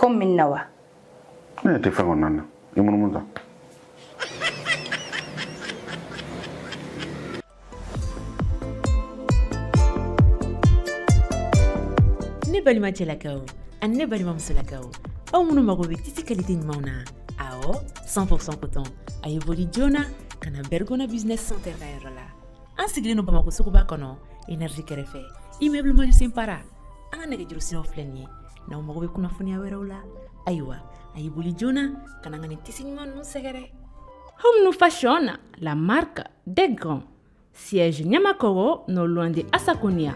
komi min na wa ne tɛ fɛn kɔnɔna na i munumunu tan ne balima cɛlakaw ani ne balima musolakaw aw minnu mago bɛ tisi kalite ɲumanw na awɔ 100% coton a ye boli joona ka na bergona business center ka yɔrɔ la an sigilen don bamako suguba kɔnɔ energie kɛrɛfɛ immeuble mandiou simpara an ka nɛgɛjuru siraw filɛ nin ye n'aw mago bɛ kunnafoniya wɛrɛw la ayiwa a y'i boli joona ka na an ka nin tisi ɲuman ninnu sɛgɛrɛ Home nous fashion la marque des grands. Siège Niamakoro, non loin de Asakonia.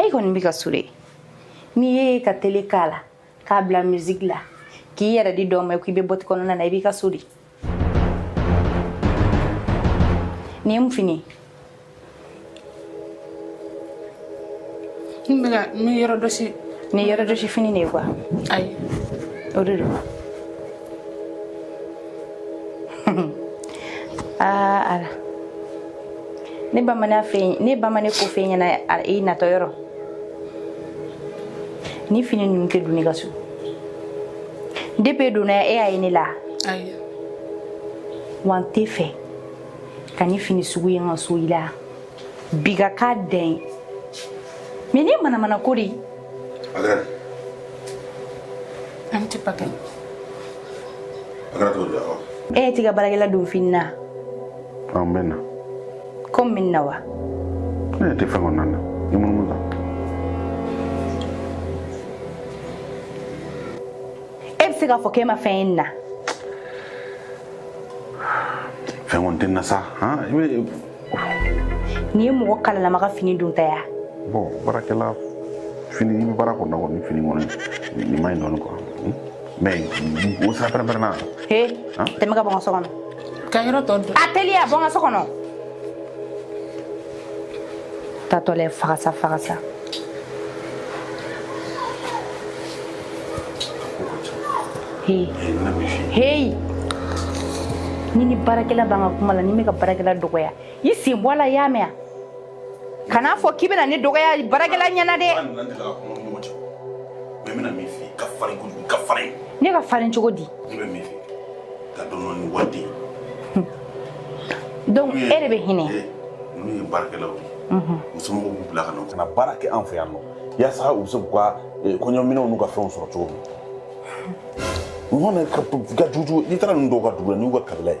E kɔni bɛ ka suri n'i ye ka tele k'a la k'a bila musique la k'i yɛrɛ di dɔn ma k'i bɛ bɔti kɔnɔna na i bɛ ka suri nin ye mun fini ye n bɛ ka n bɛ yɔrɔ jɔsi nin ye yɔrɔ jɔsi fini de ye quoi ayi o de don aa ala ne bamanan fɛ yen ne bamanan ko fɛ ɲɛna i natɔ yɔrɔ nin fini ninnu tɛ don n ka so depe donna e y'a ye ne la wa n tɛ fɛ ka nin fini sugu ye n ka so i la bi ka k'a dɛn mɛ nin manamanako de an tɛ pakɛ e tɛ ka baarakɛla don fini na Ɔ n bɛ na. Komi min na wa? Ne yɛrɛ tɛ fɛn kɔnɔna na. I munumunu tan. E bɛ se k'a fɔ k'e ma fɛn ye nin na. Fɛn kɔni tɛ n na sa. Han i bɛ. Nin ye mɔgɔ kalalama ka fini donta ye wa? Bon baarakɛla fini i bɛ baara kɔnɔna kɔni fini kɔni nin ma ɲi dɔɔni quoi. Mais, o sira pɛrɛn pɛrɛnna. He, tɛmɛ ka bɔ n ka so kɔnɔ. Ka yɔrɔ tɔ dɔn. A teliya bɔ n ka so kɔnɔ. Tatɔla ye fagasa fagasa. He. Hey. Ne ni baarakɛla b'an ka kuma la, ni n bɛ ka baarakɛla dɔgɔya, i sen bɔ a la, i y'a mɛn wa? kana fɔ k'i bɛna ne dɔgɔya baarakɛla ɲɛna dɛ ne ka farin cogo di donc e de bɛ hinɛ n'u ye baarakɛlaw ye u somɔgɔw b'u bila ka na ka na baara kɛ an fɛ yan nɔ yaasa u bɛ se k'u ka kɔɲɔminɛw n'u ka fɛnw sɔrɔ cogo min ɲɔgɔn na ka jugujugu n'i taara ninnu dɔw ka dugu la n'u ka kabila ye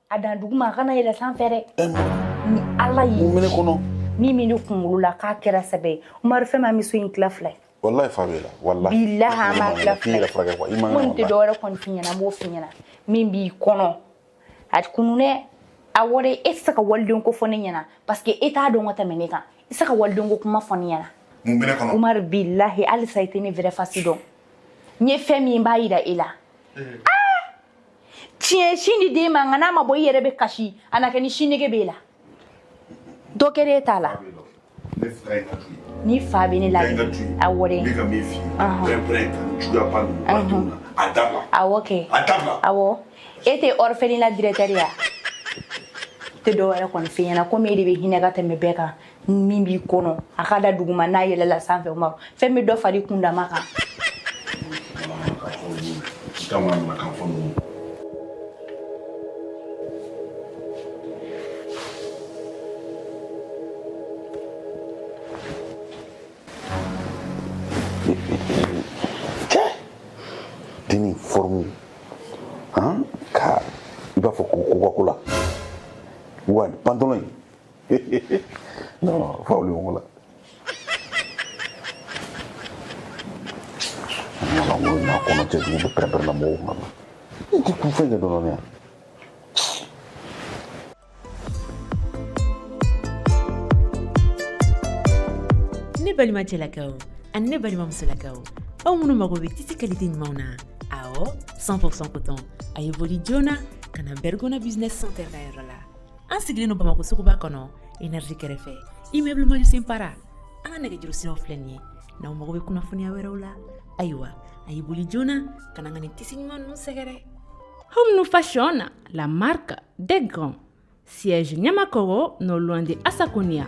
A dan duguma a kana yɛlɛ sanfɛ dɛ ɛ mun ni ala ye mun bɛ ne kɔnɔ min bɛ ne kunkolo la k'a kɛra sɛbɛ ye umaru fɛn min bɛ so in tila fila ye walayi fa b'e la walayi bilahi an b'a tila k'i fila yɛrɛ furakɛ quoi i man kɔni tɛ kɛnɛ dɔwɛrɛ kɔni f'i ɲɛna n b'o f'i ɲɛna min b'i kɔnɔ a kunu dɛ awɔ dɛ e tɛ se ka waliden ko fɔ ne ɲɛna parce que e t'a dɔn ka tɛmɛ ne kan i tɛ se ka waliden ko kuma fɔ ne ɲɛna mun bɛ ne kɔnɔ umaru bilahi halisa i tɛ ne vrai face dɔn n ye fɛn min ye n b'a yira e la tiɲɛ sin di den ma nka n'a ma bɔ i yɛrɛ bɛ kasi a na kɛ ni sin nege b'e la dɔ kɛra e t'a la ni fa bɛ ne la awɔ dɛ awɔ kɛ awɔ e tɛ orphelinat directeur ye a tɛ dɔwɛrɛ kɔni f'i ɲɛna komi e de bɛ hinɛ ka tɛmɛ bɛɛ kan min b'i kɔnɔ a ka dan duguma n'a yɛlɛla sanfɛ o ma fɛn bɛ dɔ fara i kundama kan deni forme ka i b'a fɔ ko Coca-Cola wa pantalon non faw li wala mana wulu na kono ce ni be pere pere la mo ma ni ti ku fe de do ne ne balimacɛlakaw ani ne balimamusolakaw aw minnu mago bɛ tisi qualité ɲumanw na awɔ 100% coton a ye boli joona ka na bergona business center ka yɔrɔ la an sigilen don bamakɔ suguba kɔnɔ énergie kɛrɛfɛ immeuble manusen para an ka nɛgɛjuru siraw filɛ nin ye n'aw mago bɛ kunnafoniya wɛrɛw la ayiwa a y'i boli joona ka na an ka nin tisi ɲuman ninnu sɛgɛrɛ Home Fashion, la marque des grands. Siège Niamakoro, non loin de Asaconia.